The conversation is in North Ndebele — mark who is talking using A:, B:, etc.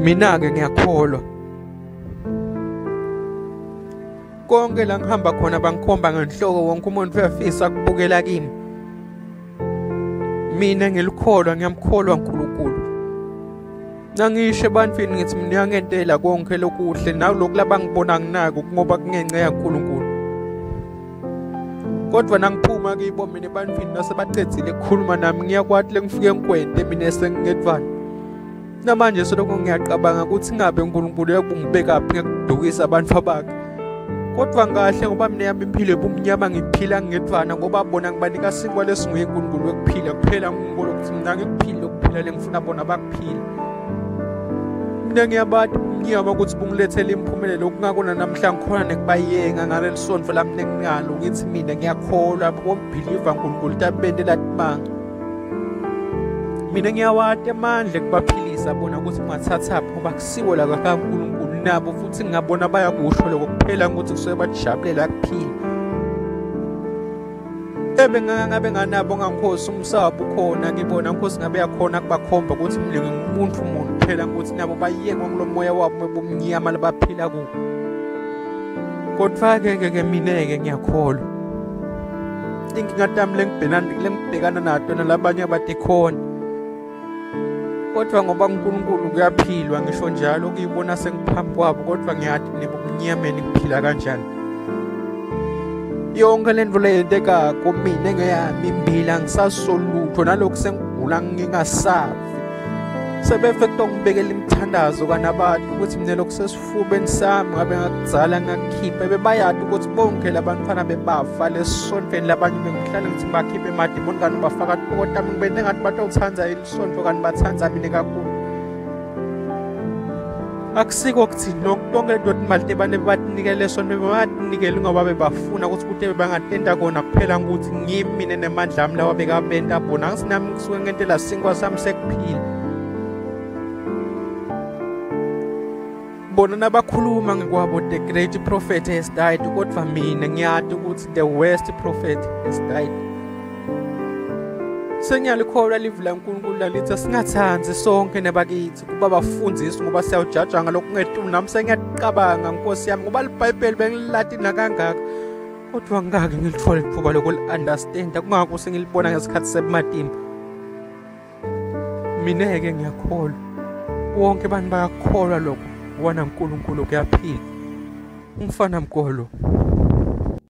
A: mina-ke ngiyakholwa konke la ngihamba khona bangikhomba ngenhloko wonke umuntu uyafisa kubukela kimi mina ngilikholwa ngiyamkholwa uNkulunkulu nangisho ebantwini ngithi mina uyangentela konke lokuhle nalokhu labangibona nginako ngoba kungenxa yaNkulunkulu kodwa nangiphuma kibo mina ebantwini nasebacedzile kukhuluma nami ngiyakwati lengifike ngikwente mina esengingedvana namanje soloko ngiyacabanga ukuthi ngabe unkulunkulu yakungibekaphi ngekudukisa abantu abakhe kodwa kahle ngoba mina yami impilo ebumnyama ngiphila ngedvana ngoba bona ngibanika sinkwa lesinguye unkulunkulu wekuphila kuphela ngikolo ukuthi mina ngikuphile ukuphila lengifuna bona bakuphile mina ngiyabati ngiyaba ukuthi bungilethele impumelelo okungakona namhlanje khona nekubayenga ngaleli sonto lami nekunalo ngithi mina ngiyakholwa bombhiliva nkulunkulu tabente latimanga mina ngiyawati amandla ekubaphilisa bona ukuthi ungathathaphi ngoba kusiwo la kakankulunkulu nabo futhi ngingabona bayakusho loko kuphela ukuthi kusuke bajabulela kuphila ebe ngabe nganabo ngakhosi umsabo ukhona kibona nkosi ngabe yakhona kubakhomba ukuthi mlingi umuntu umuntu phela ukuthi nabo bayekwa kulo moya wabo bobumnyama labaphila kuwo kodwa-ke ke ke mina-ke ngiyakholwa inkinga tami lengibhekana nato nalabanye abatikhona kodwa ngoba uNkulunkulu kuyaphilwa ngisho njalo ukuyibona sengiphambi kwabo kodwa ngiyathi nibumnyameni kuphila kanjani yonke le nto leyenteka kumina engeyami imbili angisasolutho nalokhu sengigula ngingasafi sebefe kutongibekela imithandazo kanabantu ukuthi mina lokhu esifubeni sami ngabe ngakuzala ngakukhipha bebayati ukuthi bonke labantfwana bebafa lesontfweni labanye bengihlale ngithi ngibakhiphe emadimoni kanti ubafaka tibokotami ngibene ngathi batowuthanda ilisonto kanti bathanda mina kakhulu akusiko kuthini lokhu tonke le doti imali tebane bebatinikele sonto bebatinikele ngoba bebafuna ukuthi kute bebangatenta kona kuphela ukuthi ngimi mina nemandla ami lawa bekabenta bona angisinami ngisuke ngentela sinkwa sami sekuphila bona nabakhuluma ngekwabo the great prophet has died kodwa mina ngiyati ukuthi the worst prophet has died sengiyalikholwa livi lankulunkulu lalithi asingathandi sonke nebakithi kuba bafundisi ngoba siyawujaja ngalokhu ngetulu nami sengiyaqabanga nkosi yami ngoba libhayibheli bengililati nakangaka kodwa ngingake ngilithole ithuba lokuli-understanda kungako sengilibona ngesikhathi sebumatimba mineke ngiyakholwa wonke abantu bayakholwa lokho wana nkulunkulu kuyaphila umfana mgolo